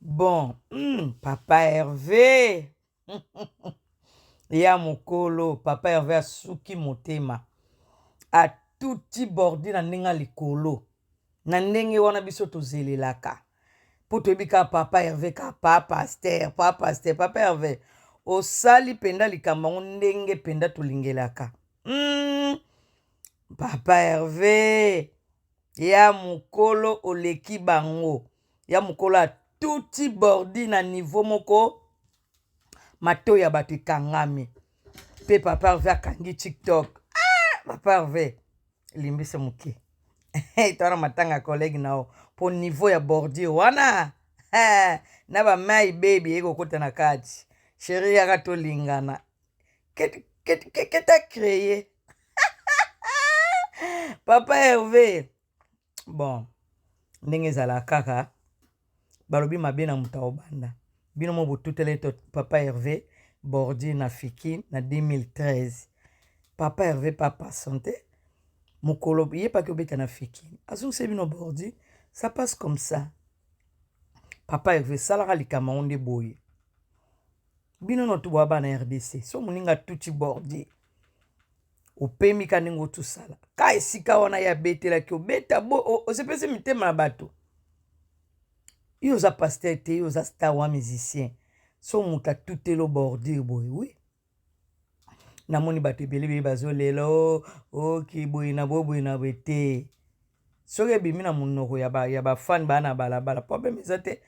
Bon hum papa Herve ya mokolo papa Herve asuki motema atuti bordi na ndenge likolo na ndenge wana biso tozelelaka mpo toyebi kaka papa Herve ka pa paster pa paster papa Herve osali mpenza likambo yango ndenge mpenza tolingelaka hum papa Herve ya mokolo oleki bango ya mokolo a tuti bordi na niveau moko mato ya bato ekangami pe papa Herve akangi tiktok ah! papa Herve limbisa moke twana matanga collègue na yo po niveau ya bordure wana eh, na bamai bebi ekokota na kati sheri yaka tolingana keta kreye papa herve bon ndenge ezalaka kaka balobi mabe na moto aobanda bino mo botutele to papa herve bordi na fiki na 2013 papa herve papa sante mokolo ye paki obeta na fiki azongise bino bordi ça passe comme ça papa herve esalaka likambo yango nde boye bino notu bwa bana rdc so moninga tuti bordi opemi ka ndenge otusala ka esika wana ye abetelaki obeta bo osepesi mitema ya bato yo oza paster te yo oza star wa musicien so moto atutelo bordure boye wi namoni bato ebele beye bazolela o oki boye na boye boye na boye te soki ebimi na monoko ya bafane baa na balabala probleme eza te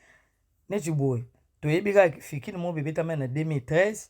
neti boye toyebi kaka kifikini mo bebetama na 2013